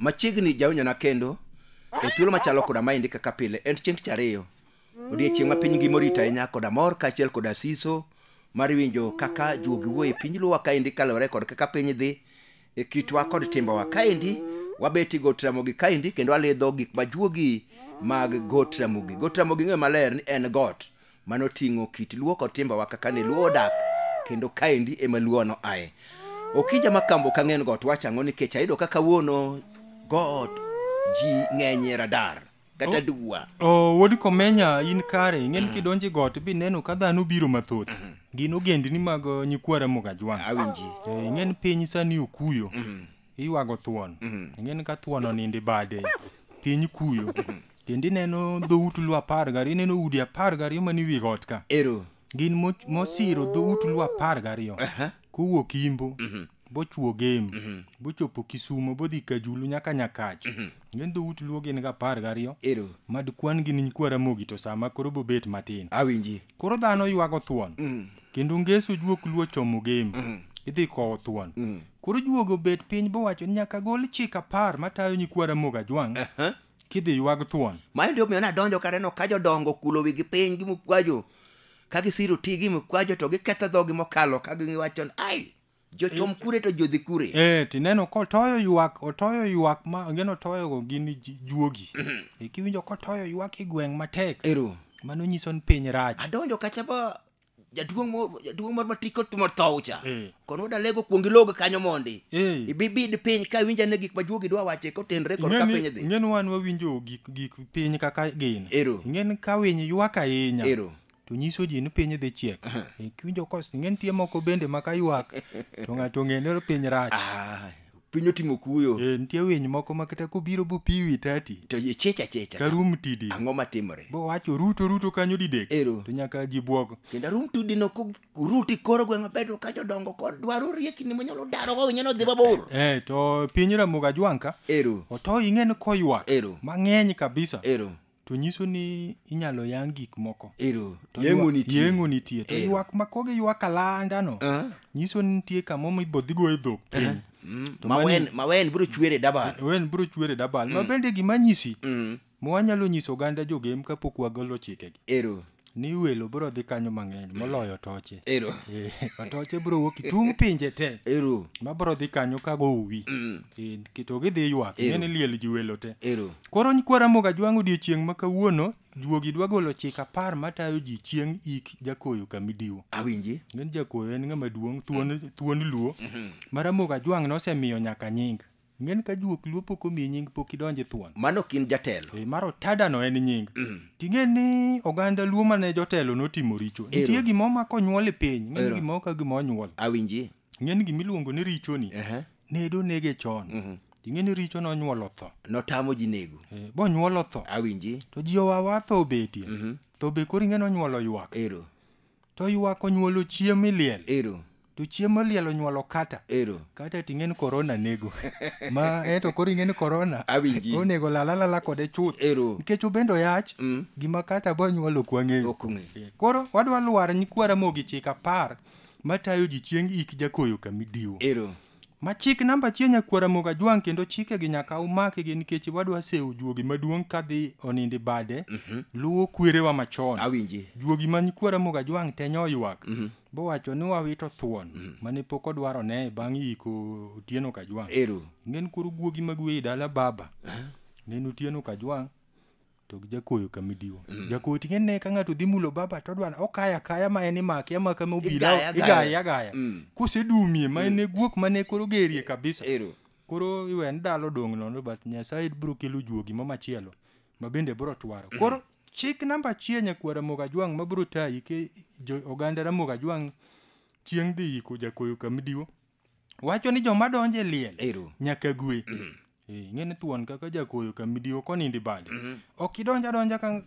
machiegni jawinjona kendo e thuolo machalo koda maendi kaka pile en chieng' tich ariyo odiechieng' ma piny ngima orito ahinya koda mor kaachiel koda siso mar winjo kaka juogi wuo e piny luwa kaendi kaluwore kod kaka piny dhi e kitwa kod timbewa kaendi wabeti got ramogi kaendi kendo walidho gik ma juogi mag got ramogi got ramogi ng'eyo maler ni en got mano ting'o kit luo kod timbewa kaka ne luo odak kendo kaendi ema luono aye okinja ma kambo ka ng'en got wachang'o nikech ayudo kaka wuono got ji ng'enyie radar kata dugwa Oh, wuod komenya in kare ing'eni kidonje got bineno ka dhano biro mathoth gin ogendni mag uh, nyikwa ramogi ajwang' awinji Eh, ing'eni piny sani okuyo iywago thuon ing'eni ka thuon oninde bade piny kuyo kendo ineno dhout lu apar gariyo ineno udi apar gariyo man iwi got ka ero gin mo- mosiro dhout luo apar gariyo Aha. kowuok imbo bochwo gem bochopo kisumo bodhi kajulu nyaka nyakach gin dhout luo gin ga apar gariyo Ero. mad kwan gi niny kwaramogi to sama koro bobet matin Awinji. koro dhano ywago thuon kendo ngeso juok luo chomo gem idhi kowo thuon koro juogo bet piny bowacho ni nyaka gol chik apar matayo nyikwara moga jwang' kidhi ywag thuon mano ndio miyo nadonjo kaneno ka jodongo okulo wigi piny gi mukwajo ka gisiro ti gi mukwajo to giketho dhogi mokalo ka giwacho ni, ai jochom kure to jodhi kure eh tineno kotoyo ywak otoyo ywak ma angeno toyogo gin ji- juogi Eh, kiwinjo kotoyo ywak e gweng' matek ero mano nyiso ni piny rach adonjo kacha ba jaduong' mo- jaduong' moro mati kotimo thow cha Eh. kono dalego kuong ilog kanyo mondi Eh. ibibid piny ka winja ne gik majuogi dwa wache kotenre kod ka piny dhi ing'eni wan wawinjo gik gik piny kaka gin Ero. ing'eni ka winy ywak ahinya Ero. to nyiso ji ni piny dhi chiek Eh, kiwinjo kos ing'eni tie moko bende ma ka ywak to ng'ato ong'e ni piny rach Ah, piny otimo kuyo Eh, nitie winy moko ma kata kobiro bopiwi tati to ichicha chicha karum tidi ang'o matimore bowacho ruto ruto kanyo didek Ero. to nyaka ji bwok kendo arum tudi no kuruti koro gweng' maber to ka jodongo kod dwaro riekni monyalo daro go winyo nodhi mabor eh, to piny ramoga jwanka ero oto ing'e ni koywak Ero. mang'eny kabisa ero To nyiso ni inyalo yang gik moko. Ero, To yeng'o ywa- nitie. Yeng'o nitie. To Ero. ywak ma kogi ywak alanda no. Ah. Nyiso ni nitie kamo ma ibodhi go e dhok piny. Mm, To mawen mani- mawen biro chwere dabar Wen bro chwere dabal. Ma bende gima nyisi. Mm, ma wanyalo nyiso oganda jogem kapok wagolo chikegi. ero ni welo bro dhi kanyo mang'eny moloyo toche ero Eh, atoche bro wuok itung' pinje te ero ma bro dhi kanyo ka gowi Mm. Eh, ki- to gidhi ywak Ero. ing'e ni liel ji welo te ero koro nyikwa ramoga jwang' odiechieng' ma kawuono juogi dwa golo chik apar matayo ji chieng' ik jakoyo kamidiwo awinji ng'en jakoyo en ng'ama duong' thuon, thuon luo ma ramoga jwang' nosemiyo nyaka nying Ng'en ka juok luo pok omiyi nying pok idonje thuon. Mano ok in jatelo. Ee, mar otada no en nying. Mm. Ting'e ni oganda luo mane jotelo notimo richo. Nitie gima omako onyuol e piny. Ng'en gima oka gima onyuol. Awinji. Ng'en gima iluongo ni richo ni. Uh -huh. Nedo nege chon. Uh mhm. -huh. Ing'e ni richo nonyuolo tho. Notamo ji nego. E, eh, bonyuolo tho. Awinji. To ji owawa tho obetie. Mm -hmm. Tho be koro ing'e nonyuolo ywak. Ero. To ywak onyuolo chiem miliel. Ero. To chiem moliel onyuolo kata. Ero. Kata ting'en korona nego. Ma eto koro ing'en korona. Awinji. Onego lala lala kode chuth. Ero. Nikech obendo yach. Mm. Gima kata bo nyuolo ok wang'eyo. Ok ong'e. Koro wadwa lwar nyikwa Ramogi chik apar matayo ji chieng' ik jakoyo kamidiwo. Ero. Ma chik namba achiel nyakwar Ramogi Ajwang' kendo chike gi nyaka umake gi nikech wadwa sewo juogi maduong' kadhi onindi bade luwo kwerewa machon. Awinji. Juogi ma nyikwa Ramogi Ajwang' te nyoywak bowacho ni wawito thuon mane pok odwaro ne bang' yiko Otieno Kajwang'. Ero. Ng'en koro guogi mag weyi dala baba. Ng'en Otieno Kajwang'. to gi jakoyo kamidiwa mm. jakoyo tinge ne ka ng'ato dhi mulo baba to odwar okaya kaya ma en imake amaka ma obila igaya agaya mm. kusedumie ma en mm. guok ma ne koro gerie kabisa Ero. koro iwe ndalo dong' nono but nyasaye biro kelo juogi ma machielo ma bende biro twaro mm. koro chik namba achiel nyakwar ramoga jwang' ma biro tayi ke oganda ramoga jwang' chieng' dhi yiko jakoyo kamidiwa wacho ni joma donjo e liel Ero. nyaka gwe Eh, ing'e ni thuon kaka jakoyo ka midiwo konindi bade ok idonja donja ka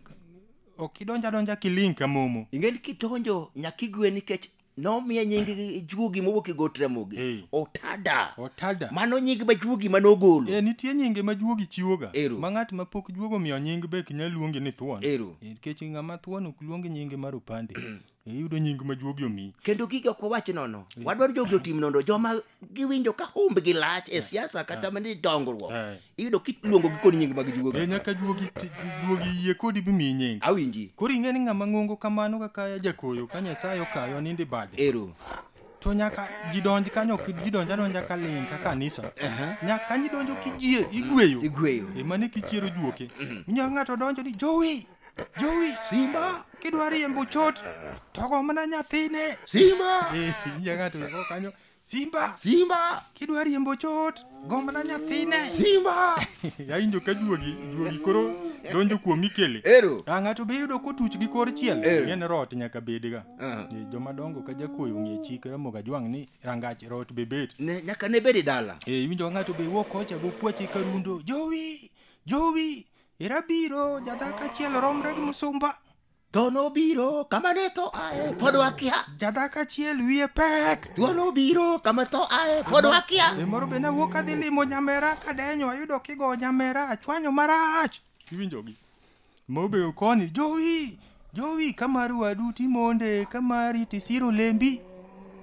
ok idonja donja kiling ka momo ing'e ni kidonjo nyaka igwe nikech nomiye nying juogi mowuok e got ramogi Eh. otada otada mano nying ma juogi mane ogolo Eh, nitie nyinge ma juogi chiwoga Ero. ma ng'at ma pok juogo miyo nying be ok nyal luonge ni thuon Ero. Eh, nikech ng'ama thuon ok luong nyinge mar opande iyudo nying ma juogi omi kendo gigi ok wawach nono wadwaro jogi otim nono joma giwinjo ka humbgi lach e siasa kata mani dongruok Eh. iyudo kiluongo gi kod nying mag e juogi nyaka juogi ti- juogi yie kodi bimiyi nying awinji koro ing'e ni ng'ama ng'ongo kamano kaka jakoyo ka nyasaye okayo nindi bade ero to nyaka jidonj kanyo ok jidonj adonja ka ling ka kanisa nyaka kanyo idonjo kijie igweyo igweyo emane kichiero juoke inyalo ng'ato donjo ni jowi Jowi. Simba. Kidwa riembo chot to go mana nyathine. Simba. Eh, nyie ng'ato go kanyo. Simba. Simba. Kidwa riembo chot go mana nyathine. Simba. Yawinjo ka juogi, juogi koro donjo kuom ikele. Ero. Ah, ng'ato be yudo kotuch gi kor chiel. Ng'en rot nyaka bedga. Ah. Eh, joma dongo ka jakoyo ng'e chik ramoga jwang' ni rangach rot be bet. Ne, nyaka ne bedi dala. Eh, iwinjo ng'ato be wuok kocha go kwache karundo. Jowi. Jowi. Ira biro, jadak achiel romre gi musumba. Tho nobiro kama ne tho ae, pod wakia. Jadak achiel wiye pek. Tho nobiro kama tho ae, pod wakia. E moro be nawuok adhi limo nyamera kadenyo ayudo kigo nyamera achwanyo marach. Iwinjogi. Mobeyo koni, jowi, jowi kamar wadu timonde, kamari tisiro lembi.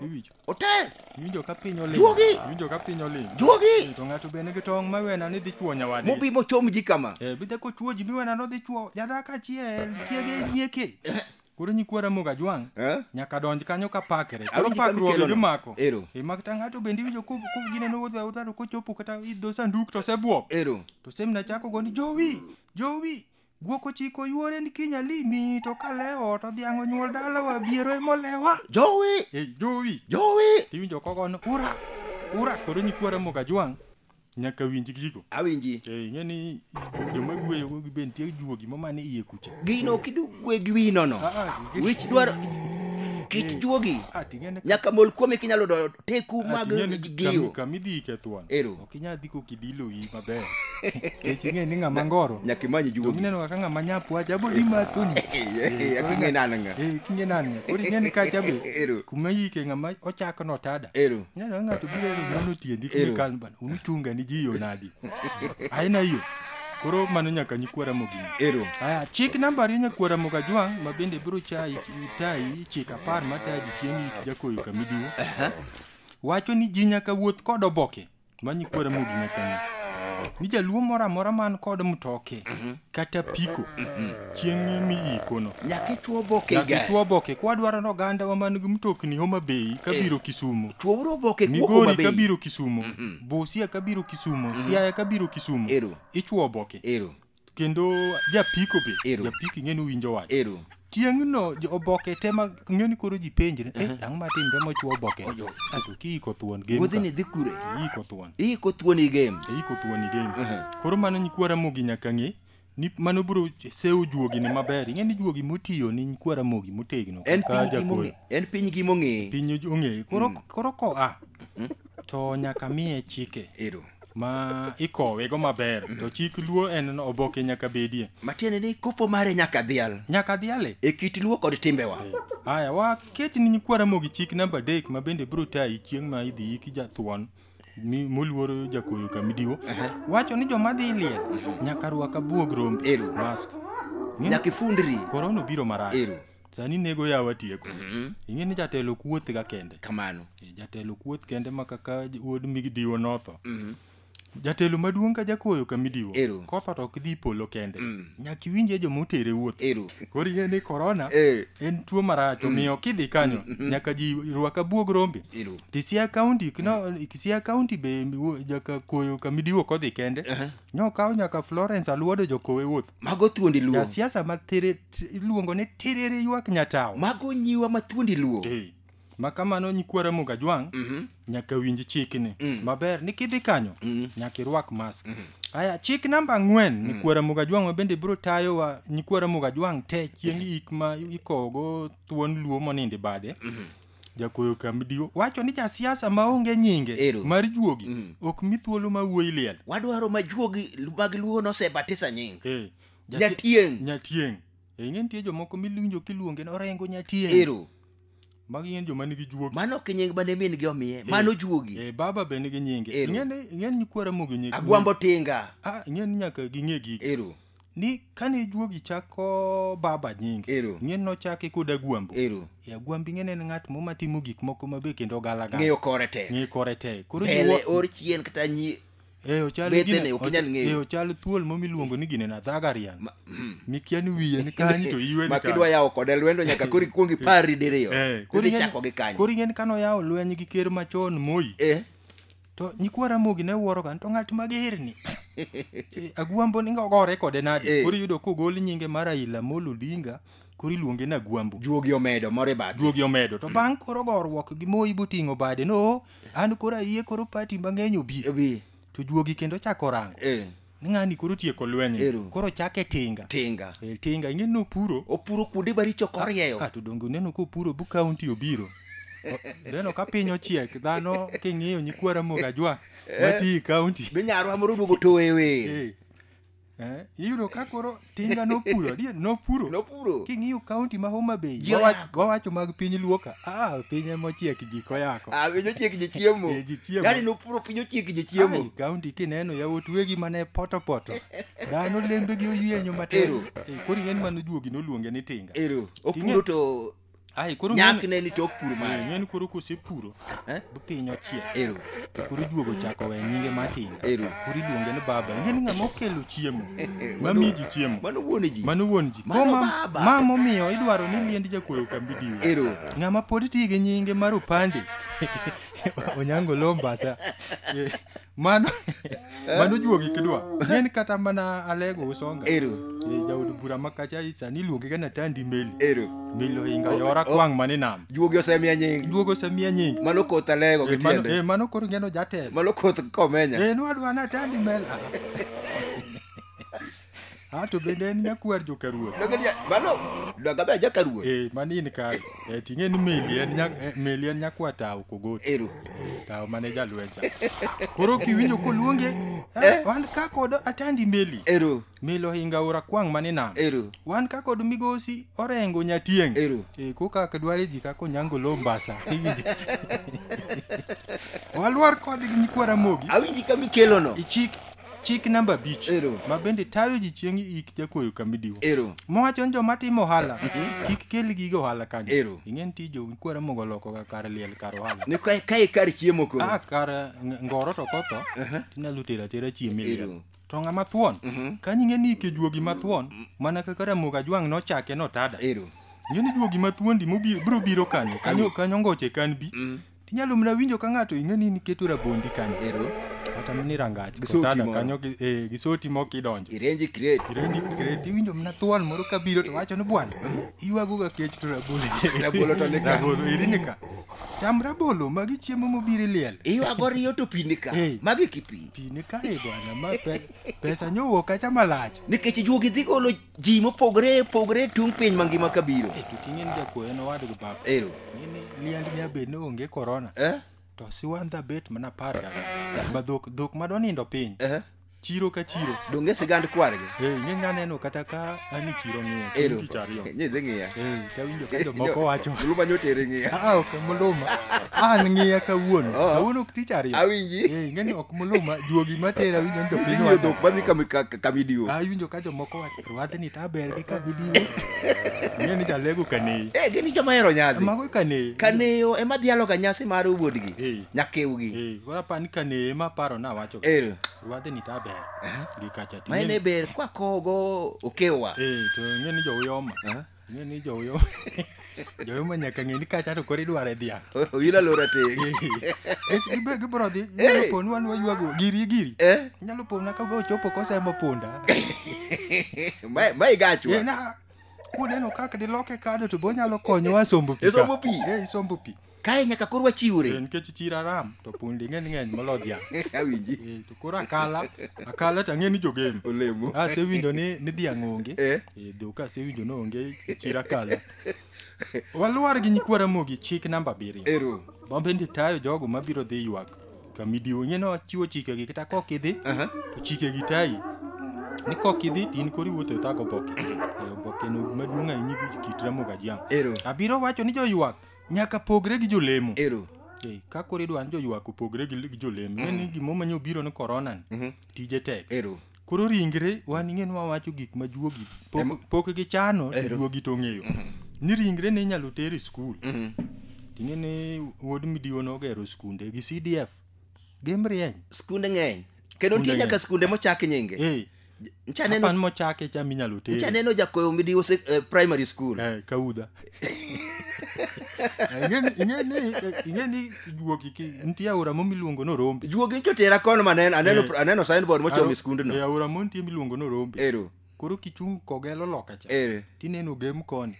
Iwinjo. Otel. Iwinjo ka piny oling. Juogi. Iwinjo ka piny oling. Juogi. Eh, to ng'ato bende gi tong' ma wena ni dhi chuo nyawadi. Mobi mochom ji kama. Eh, bidhe ko chuo ji mi wena no dhi chuo. Jada ka chiel, chiege nyieke. Eh. Koro nyikwara moga jwang'. Eh? Nyaka donj kanyo ka pakre. Koro pakruoge gi mako. Ero. E mak ta ng'ato bende iwinjo ko ko gine no wodha wodha ko chopo kata idho sanduk to se bwok. Ero. To semna chako go ni jowi. Jowi. Guok ochiko yuore ni kiny alimi to ka lewo to dhiang' onyuol dalawa biero emolewa. Jowi! Ei jowi! Jowi! Tiwinjo kogo ni ura! Ura! Koro nyikwara moga jwang' nyaka winj gigo. Awinji. Ei ng'e ni joma gweyo go be nitie juogi ma mane iye kucha. Gino kidu gwe gi wino no. Ah, ah, gi- Wich dwaro kit juogi. Ah, ting'e ne- Nyaka mol kuome kinyalo do teku Ah, mag ting'e ne giyo. kami- Kami dhi ikethwan. Ero. Kinya dhi kokidilo gi maber. Kech ing'e ni ng'ama ngoro. Nyaka imany juogi. Donge ineno kaka ng'ama nyapu wacha abo dhi mathuni. Eh, ak ing'e nani ng'a. Eh, ak ing'e nani ng'a. Koro ing'e ni kacha be. Ero. Kuma yike ng'ama ochako no tada. Ero. Ineno ng'ato biro ni nono tiendi Ero. kumi kan bana. Unuchunga ni ji yo nadi. Aina hiyo. Koro mano nyaka nyikwara mogini. Ero. Aya, chik namba ariyo nyakwara moga jwang' ma bende biro chayi tayi chik apar matayi chieng' jakoyo kamidiwo. wacho ni ji nyaka wuoth kod oboke manyi kuora mogi nyakani ni jaluo moro amora man kod mtoke kata piko chieng'e mi ikono Nyaka ichwo oboke nyaka igari. ichwo oboke kwadwaro ni ogandawa man gi mtokni homa bei kabiro kisumo Chwouru oboke kuok Homa migori Bay. kabiro kisumo busia kabiro kisumo siaya kabiro kisumo Ero. ichwo oboke Ero. kendo japiko be Ero. japiko ing'e ni winjo wach ero tieng'no jo- oboke te ma ing'e ni koro ji penjre eh, ang'o matimre mochwo oboke Ojo. ato kiiko thuon game wuodhi ni ka. dhi kure iiko thuon iiko thuon i game iiko thuon i game Ehe. koro mano nyikwara mogi nyaka ng'e ni mano biro sewo juogi ni maber ing'e ni juogi motiyo ni nyikwara mogi motegno en kaka piny gi jakoro. mong'e en piny gi mong'e piny ong'e koro koro koa to nyaka miye chike ero ma ikowe go maber mm. to chik luo en oboke nyaka bedie matiende ni kopo mare nyaka dhial nyaka dhiale e kit luo kod timbewa eh, haya waket ni nyikwara mogi chik namba adek ma bende biro tayi chieng' ma idhi yiki jathuon moluoro jakoyo kamidiwo wacho ni joma dhi liel nyaka rwaka buog rombe mask nyaka ifundri korona obiro marach sani nego yawa tieko Mhm. ing'e ni jatelo kuoth ga kende kamano Eh, jatelo kuoth kende ma kaka j- wuod midiwo notho Mhm. jatelo maduong' ka jakoyo ka midiwo Ero. kotho to ok dhi polo kende Mm. nyaka iwinje joma otere wuoth ero koro ing'e ni korona Eh. en tuo marach omiyo kidhi kanyo nyaka ji rwak abuog rombe ero Kisia County, kino, Kisia County be wo- jaka koyo kamidiwo kodhi kende. Nokawo nyaka Florence Aluodo jokowe wuoth. Mago thuondi luo. Ja siasa ma tere iluongo ni tiriri ywak nyatawo. Mago nyiwa ma thuondi luo. Hey. Ma kamano nyikwara Muga Jwang' mm -hmm. nyaka winj chikni mm. maber ni kidhi kanyo mm -hmm. nyaka irwak mask. Mm -hmm. Aya chik namba ang'wen mm. nyikwara Muga Jwang' mabende biro tayowa nyikwara Muga Jwang' te chieng' ik ma ikogo thuon luo monindo bade. Mm -hmm. jakuoyo kamdiwo wacho ni jasiasa maonge nyinge Ero. mar juogi Mm. ok mi thuolo ma wuoyi liel wadwaro ma juogi mag luo nosebatisa nying Eh, jasi- Nyatieng'. nyatieng Eh, ing'e nitie jomoko miwinjo kiluonge ni orengo nyatieng ero magi ng'eny joma nigi juogi mano ok nying mane min gi omiye mano juogi Eh, baba be nigi nyinge Ero. ing'e ni ing'e ni nyikwara mogi nyinge agwambo tinga Ah, ing'e ni nyaka ging'e gigi ero ni kane juogi chako baba nying Ero. ng'en nochake kod agwambo Ero. e agwambi ng'en en ng'at mo matimo gik moko mabe kendo galagala Ng'eyo kore tek. ng'eyo kore tek koro Pele jiwo- or chien kata nyi Eh, ochal Bethene, gine- ok inyal ng'eyo. eh, ochal thuol mo miluongo ni gine na dhagarian mikia ni wiye ni kanyi to iwe ni ma kidwa kanyo. yawo kode lwendo nyaka koro ikuong ipari diriyo. Eh, koro Koro ing'e ni- ichako gi kanyo. koro ing'e ni kano yawo lweny gi ker machon moi Eh. To nyikwa Ramogi ne wuoroga ni to ng'at magerni. Eh, Agwambo ni gore kode nade? Eh. Koro iyudo kogol nyinge mar Raila Amolo Odinga koro iluonge ni Agwambo. Juogi omedo moro e bathe. Juogi omedo. To bang' koro goruok gi Moi boting'o bade no an koro ayie koro pati mang'eny obi. Obi. To juogi kendo chako rango. Eh. ng'ani koro tieko lweny Ero. koro chake tinga tinga e, tinga ing'e ni opuro opuro kuonde maricho korieyo ah, to donge uneno kopuro bu kaunti obiro O- neno ka piny ochiek dhano king'iyo nyikwa ramogi ajwa mati kaunti be nyarwa moro oduogo towe wer Eh, eh, iyudo ka koro tinga nopuro adier nopuro nopuro king'iyo kaunti ma homa bay Ji wawach- oyako. wawacho mag piny luoka ah piny emochiek ji koyako Ah, piny ochiek ji chiemo Eh, ji chiemo. yani nopuro piny ochiek ji Ai, chiemo kaunti kineno yawuot wegi mane potopoto dhano lembegi oyienyo matin Ero. Eh, koro ing'eni mano juogi noluonge ni tinga ero King'e- opuro to Ai koro nyak ne ni tok pur mare. Nyen koro kose puro. Eh? Bu piny ochiek. Ero. To koro juogo chako we nyinge matin. Ero. Koro iluonge ni baba. Nyen ng'a mokelo chiemo. Mami ji chiemo. Mano wuon ji. Mano wuon ji. Mano baba. Ma momiyo idwaro ni liend jakoyo kambi diwa. Ero. Ng'a ma pod tiyo gi nyinge mar opande. Onyango lombasa. mano mano juogi kidwa en kata mana alego usonga ero Eh, jaod bura makacha sani iluonge ga natandi meli ero meli ohinga yora kwang' mane nam juogi osemiya nying juogo osemiya nying mano koth alego Eh, gi mano- tiende eh, mano koro ngeno jatelo mano koth komenya Eh, nwadwa natandi meli Ah, Ah, to bende en nyakwar joka ruoth Donge dia- mano dagabe aja ka ruoth Eh, mano in kare Eh, ting'e ni meli en nya- eh, meli en nyakwa tawo kogoti ero tawo mane jalwecha koro kiwinjo koluonge eh, wan ka kod atandi meli ero meli ohinga ora kwang' mane nam ero wan ka kod migosi orengo nyatieng' Ero. Eh, koka dware ji kaka onyango lo mbasa iwinjo walwar kodgi nyikwara mogi awinji kama ikelono ichik Chik namba abich Ero. ma bende tayo ji chieng' ik jakuoyo kamidiwo. Ero. Mowacho ni joma timo ohala kik kel gige ohala kanyo. Ero. Ing'e ni tij jokuora mogo loko ga kar liel kar ohala. Ni ka ka ikar chiemo koro. Ah, kar ng- ngoro to kotho Aha. tinyalo tero atera chiemo e liel. Ero. To ng'ama thuon Mhm. kanyo ing'e ni ike juogi mathuon mana kaka Ramogi Ajwang' nochake notada. Ero. Ing'e ni juogi mathuondi mobiro biro kanyo kanyo kanyo ngoche kan bi Mm. Inyalo mna winjo ka ng'ato ing'e ni niketo rabondi kanyo. Ero. Kata mini rangach. Gi soti Kotala moro. kanyo gi eh, gi soti moko idonjo. Irenji crate. Irenji crate iwinjo mna thuon moro ka biro to wacho ni bwana iywago ga kech to rabolo. Rabolo to ni ka. Rabolo eri ni ka. Cham rabolo magi chiemo mobiro iliel. Iywago riyo to pi ni ka. Eh. Magi kipi. Pi ni ka e bwana ma pe, pesa nyowuok kacha malach. Nikech juogi dhi golo ji mopogore opogore tung' piny mangima ka biro Eh, to king'eni jakuoyo en owadgi baba ero ng'eni liend ni abed ni onge korona eh? to siwandha bet mana par gang'wen. ma dhok dhok ma donindo piny Eh? chiro ka chiro donge sigand kwargi Eh, ing'e nya neno kata ka ani chiro ng'iyo ero chieng' tich ariyo nyidhi ng'iya Eh, tawinjo ka jomoko wacho luma nyotere ng'iya "Ah, ok muluma an ng'iya kawuono Oh. kawuono ok tich ariyo awinji Eh, ing'eni ok muluma juogi matera winjo ni jopiny inyiyo wacho dhok madhi kama ka video Ah, iwinjo ka jomoko wacho rwadhni ta ber gi ka video ng'e ni jalego kaneyi eh gini joma hero nyadhi mago kaneyi kaneyo ema dhialoga nyasi mar wuodgi Eh. nyakewgi Eh, koro apa ni kaneyi ema paro na wacho ero rwadhni ta ber gi kacha to ma en e ing'e- ber kwakogo okewa eh to ing'e ni jouyoma Aha. Ng'e ni joyo joyo ma nyaka ng'e ni kacha to koro idware dhiang'. Ila lora te. Ech gibe gibro dhi nyalo Eh. ponu anwa ywago giri giri. Eh, Nyalo pona ka go chopo kosemo punda. ma ma igachwa. Eh, na kuneno kaka diloke kado to bonyalo konyowa sombo pi. ka. Isombo pi. Eh, isombo pi. kae nyaka koro wachiwre Eh, nikech chir aram to pundi ng'eny ng'eny molo dhiang' awinji Eh, to koro akala akala to ang'e ni jogem olemo asewinjo ni ni dhiang' onge Eh. Eh, dhok asewinjo ni onge chir akala walwar gi nyikwara mogi chik namba abiriyo ero mabende tayo jogo mabiro dhi ywak kamidiwo ing'e ni wachiwo chikegi kata kok idhi Aha. to chikegi tayi ni kok idhi to in koro iwuotho e thago oboke Eh, obokeno maduong' ahinya gi kit ramogi ajiang' ero abiro wacho ni joywak nyaka pogre gi jolemo ero Ei, ka koro idwa ni joywak opogre gi gi jolemo mm. ni gimo manyo biro ni korona ni Mhm. tije tek ero koro ringre wan ing'e ni wawacho gik ma juogi Em- pok- pok gichano to Ero. juogi to ong'eyo ni ringre ne inyalo ter e skul Mhm. ting'e ni wuod midiwo nogero skunde gi cdf gimrieny skunde ng'eny kendo nitie Skunde nyaka ng'eny. skunde mochak nyinge Eh, ncha neno Kapan mochake cha minyalo ncha tere. neno jakoyo midiwo sek- eh, primary school Eh, kaudha. Eh, ing'eni- ing'eni, eh, ing'eni juogi ki nitie aora mo miluongo ni Orombe. juogi ncho tera kono ma aneno aneno Eh. aneno signboard mochomo Aro- e skundno eh, aora mo nitie miluongo ni Orombe. ero Koro kichung' kogelo loka cha. ero tineno gem koni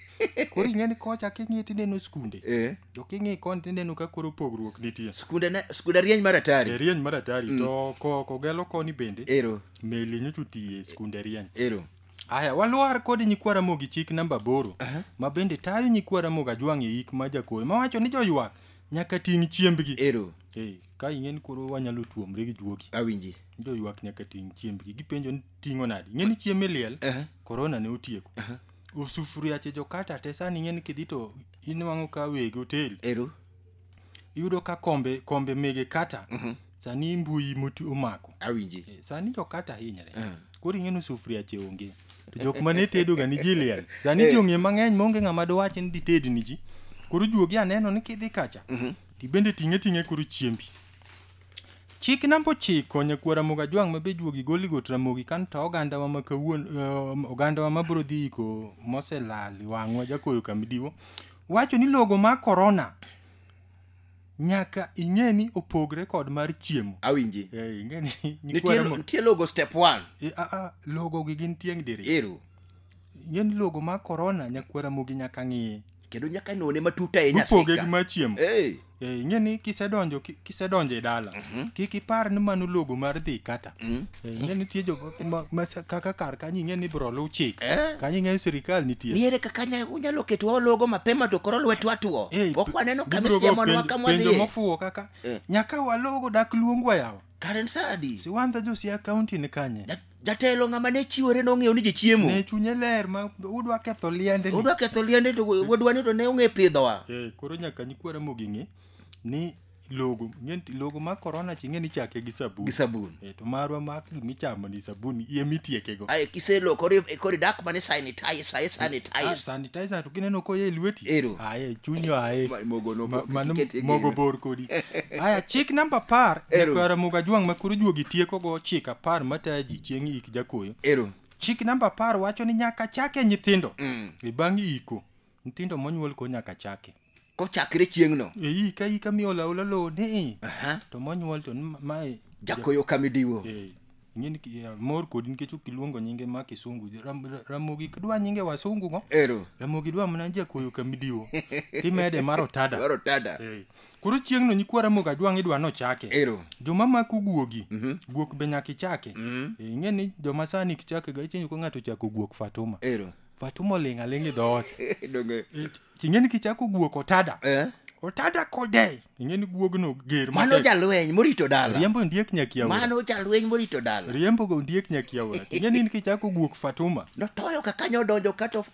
koro ing'eni kocha king'i tineno skunde eh to king'i koni tineno ka koro pogruok nitie skunde ne skunde rieny mar atari e rieny mar atari to ko- kogelo koni bende ero meli nyocha otiye e skunde rieny ero aya walwar kod nyikwa ramogi chik namba aboro ma bende tayo nyikwa ramogi ajwang' e ik ma jakoro mawacho ni joywak nyaka ting' chiembgi ero Eh, ka ing'e ni koro wanyalo tuomre gi juogi awinji joywak nyaka ting' chiembgi gipenjo ni ting'o nadi ing'e ni chiemb liel Aha. korona ne otieko Aha. osufuriache jokata te sani ing'e ni kidhi to inwang'o ka weg otel ero iyudo ka kombe kombe mege kata mhm. sani mbui moti omako awinji eh, sani jo kata hinyre eh. koro ing'e ni sufuria che onge to jok ma ne tedo ga ni jiliel sani eh. ji ong'e mang'eny maonge ng'ama dowach ni dited ni ji koro juogi aneno ni kidhi kacha mhm. tibende ting'e ting'e koro chiembi chik namba ochiko nyakwara moga jwang' ma be juogi goli got ramogi kan to ogandawa ma kawuon ogandawa ma bro dhi iko moselal wang'wa jakoyo kamidiwo wacho ni logo mar korona nyaka ing'e ni opogre kod mar chiemo awinji Eh, ing'e ni nitie nyikwara mo- nitie logo step 1 Eh, ah, ah, logo gi gin tieng' diri ero ing'e ni logo mar korona nyakwara mogi nyaka ng'iye kendo nyaka none matut ahinya mopoge gi sika mar chiemo Eh. Eh, ing'e ni kisedonjo ki- kisedonjo e dala kik ipar ni mano logo mar dhi kata Eh, ing'e nitie jo ma- ma sa- kaka kar kanyo ing'e ni ibro luw chik Eh. kanyo ing'e ni sirikal nitie niere kaka nya- unyalo ketwa ologo mapema to koro lwetwa tuo Eh, ok waneno kama gibiro go isiemonwa penjo- kama penjo wadhiye mofuwo kaka Eh. nyaka walogo dak luongwa yawa karen sadi siwandha josia kaunti ni kanye Dat- Jatelo ng'ama ne chiwore nong'eyo ni ji chiemo. Ne chunye ler ma udwa ketho liende. ni. Udwa ketho liende to wadwa ni to ne ong'e pidhowa. Eh, koro nyaka nyikwa Ramogi ng'e ni logo ng'e ni logo ma korona chi ng'e ni chake gi sabun. Gi sabun. Eh, to marwa ma gimichamo ni sabun iye mitiekego. Aye kiselokori kori dak mane sanitize, aye sanitize. Ah, sanitizer to kineno koye e lweti Ero. aye chunyo aye Ma- mogo no- Ma- mano kiket e mogo gino. bor kodi aya chik namba apar Ero. jakwara moga jwang' ma koro juogi tiekogo chik apar mataya ji chieng' ik jakoyo ero chik namba apar wacho ni nyaka chake nyithindo Mm. e bang' iko nyithindo monyuol ko nyaka chake kochakre chieng'no eyi ka ika miolo aola lowo ni Aha. to monyuol to ni mae jakoyo kamidiwo Eh, ing'e ni ki- eh, mor kodi nikech ok iluongo nyinge ma kisungu Ram- ra- ramogi dwa nyinge wasungu go ero ramogi dwa mana jakoyo kamidiwo timede mar otada dwaro tada Eh, koro chieng'no nyikwa ramogi ajwang' idwa nochake ero joma mako guogi guok be nyaka ichake Mhm. Eh, ing'e ni joma sani kichake ga ichenyo ka ng'ato chako guok fatuma ero but umoling' aling' e dhoot Donge. It- ting'e ni kichako guok otada Eh? otada kodei ing'e ni guogno ger Mano matek. jalweny morito dala. riembo ondiek nyakiaora Mano jalweny morito dala. riembo go ondiek nyakiaora ting'e ni kichako guok fatuma Notoyo ka kanyo odonjo ka to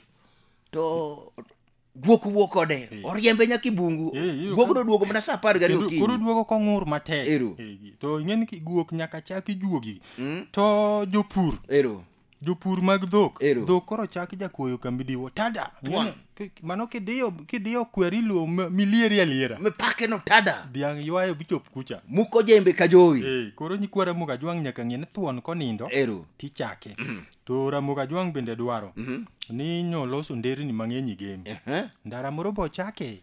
to guok wuok kode Eh. oriembe nyaka i bungu Eh, iyudo guok ka- noduogo mana sa apar gariyo Kendo koro okinyi duogo kong'ur matek Ero. Eh, to ing'eni ki- guok nyaka chak ijuogi Mm, to jopur ero jopur mag dhok Ero. dhok koro chak jakuoyo kambi diwo tada Tuan. Ing'eni, ki- mano kidiyo kidiyo kweri luo m- milieri aliera mipake no tada dhiang' ywayo bichop kucha muko jembe ka jowi Eh, koro nyikwara muga jwang' nyaka ng'e ni thuon konindo ero tichake To Ramogi Ajwang' bende dwaro ni nyo loso nderni mang'eny e game. Ehe. Ndara moro bo chake.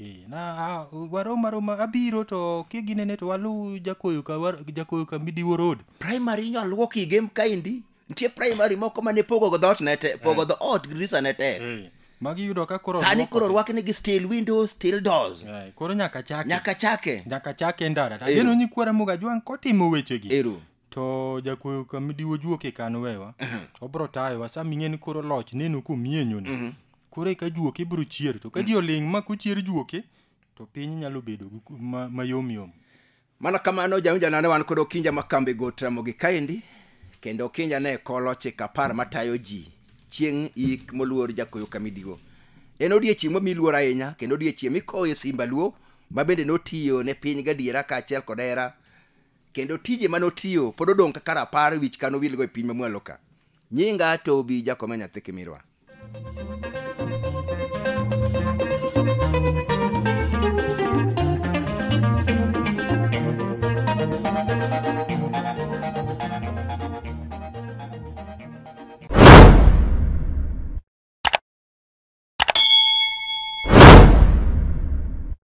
Eh, na a- warom aroma abiro to kiginene to waluw jakoyo ka war- jakoyo ka Midiwo Road. primary inyo aluok i game kaendi nitie primary moko mane pogo go dhoot ne te pogo dho ot grisa ne tek Eh, magi yudo ka koro sani rwako koro te. rwakni gi steel windows steel doors Eh, koro nyaka chake. nyaka chake Nyaka chake ndara. Ero. Ageno ni kwa Ramogi Ajwang' kotimo wechegi. ero to jakuoyo kamidiwo juok e kan wewa obro tayowa sa ming'e ni koro loch neno komienyono koro eka juok ibro chier to ka ji oling' ma kochier juoke to piny nyalo bedo gi ku- ma- mayom yom mana kamano jaunjana ne wan kod okinja ma kambi go tramogi kaendi kendo okinja ne kolo chik apar matayo ji chieng' ik moluor jakoyo kamidigo en odiechieng' mami luor ahinya kendo odiechieng' mikoye simba luo ma bende notiyo ne piny gadiera kaachiel kod hera Kendo tije mane otiyo pod odong' kaka rapar wich kano wilgo e piny mamwalo ka. Nyinga Tobi Jakome Nyathi Kimirwa.